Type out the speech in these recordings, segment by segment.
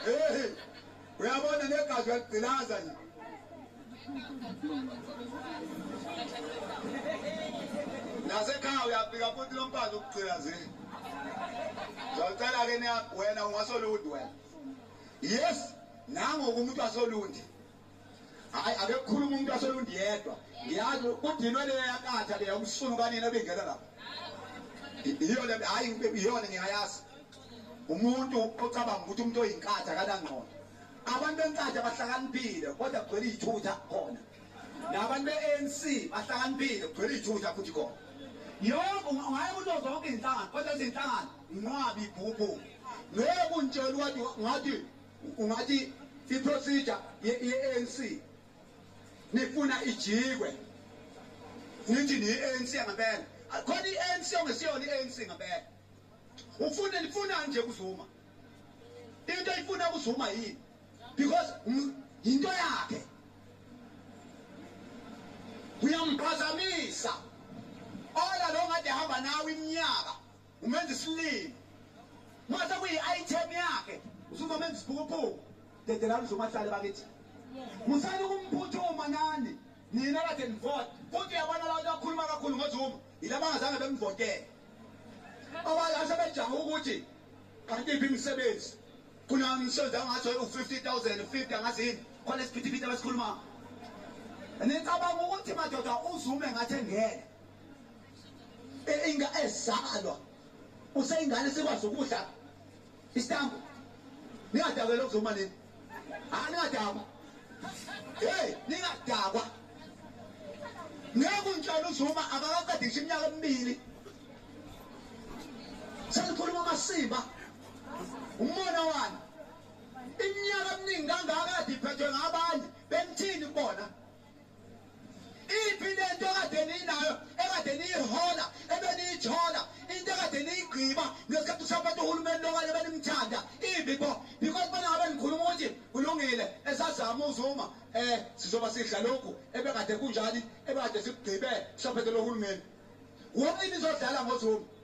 hey uyabona negazi uyagcilaza nje nasekhaya uyafika futhi lo mfazi ukugcilazile zocela-ke wena ungasolundi wena yes nangokumuntu asolundi hayi ake kukhuluma umuntu aselundi yedwa ngiyazi kudinwe leyo yakatha leyo umsunu kanina bengena lapha iyona hayi iyona ngiyayazi umuntu ocabanga ukuthi umuntu oyinkatha kanangqondo abantu benkatha bahlakaniphile kodwa kugcwele iy'thutha khona nabantu be-anc bahlakaniphile kugcwele iy'thutha futhi khona yonke ungaye kuzo zonke izinhlangano kodwa izinhlangano nqwabi ibhubhu ngeke untshela ukuthi ngathi Ungathi iprocedure ye-ANC nifuna ijikwe nithi niyi-ANC ngempela khona i-ANC ongesiyona i-ANC ngempela ufune nifunani nje kuzuma into ifuna kuzuma yini because yinto yakhe uyamphazamisa ola lo ngade hamba nawe iminyaka Umenza isilima. Mase kuyi-item yakhe usuzomenza isiphukuphuku. Dedelani uzomahlale bakithi. Musani ukumphuthuma nani. Nina kade nivota. Futhi uyabona abantu akhuluma kakhulu ngoZuma. Yilaba ngazange bemvotele. Abanye asebejaha ukuthi kanti iphi imisebenzi. Kuna umsebenzi angathi u-50000 50 angathi yini. Khona isiphithiphithi abasikhuluma. Nicabanga ukuthi madoda uZuma engathi engena. E, inga ezalwa useyingane sikwazi ukudla isitambu ningadakwa lokhu zoma nini hayi ah, ningadakwa hey ningadakwa ngeke untshela uzuma akakaqedi ngisho iminyaka emibili selikhuluma amasimba umona wani iminyaka eminingi kangaka kade iphethwe ngabanye bemthini kubona iphi lento ekade ninayo ekade niyihola ebeniyithola into ekade niyigqiba ngesikhathi usaphethe uhulumeni lokanye benimthanda imbi bo because bana ngabe nikhuluma ukuthi kulungile esazama uzuma eh sizoba sidla lokhu ebekade kunjani ebekade sikugqibe usaphethe lohulumeni wonke nizodlala ngozuma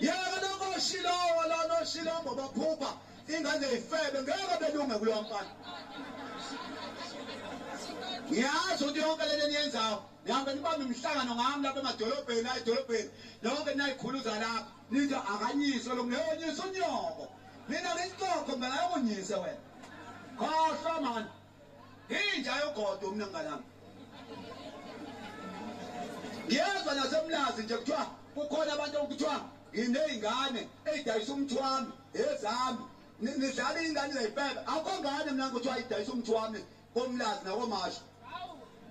yena noshilongo la noshilongo baphupha ingane ifebe ngeke belunge kulo mfana ngiyazi ukuthi yonke lento eniyenzayo nihambe nibambe imihlangano ngami lapha emadolobheni la edolobheni yonke ninayikhuluza lapha nithi akanyise lo ngeyonyisa unyoko mina ngisixoxo mntana yokonyise wena khohlwa mani Inja yogodo mina ngalami. Ngiyezwa nasemlazi nje kuthiwa kukhona abantu okuthiwa nginey'ngane ey'dayisa umuthi wami ezami nidlala iy'ngane zayipebe akho ngane mina kuthiwa idayisa umuthi wami komlazi nakomasho